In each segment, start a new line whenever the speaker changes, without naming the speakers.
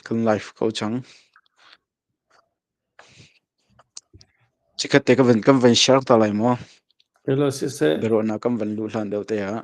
Kan live ko cang. Chikkhat te kan van share ta lai maw? Hello siseh. Biaruahnak kan van luh hlan deuh te ah.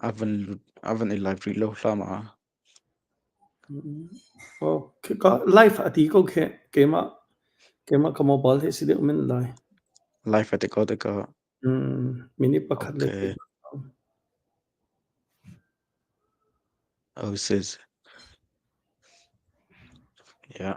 A van lut, a van i live rih lo hram ah. Oh, khika live a ti ko khe keimah keimah ka mobile he si deuh men lai. Live a ti ko te ko. Mm, minute pakhat le Okay. Oh, sis. Yeah.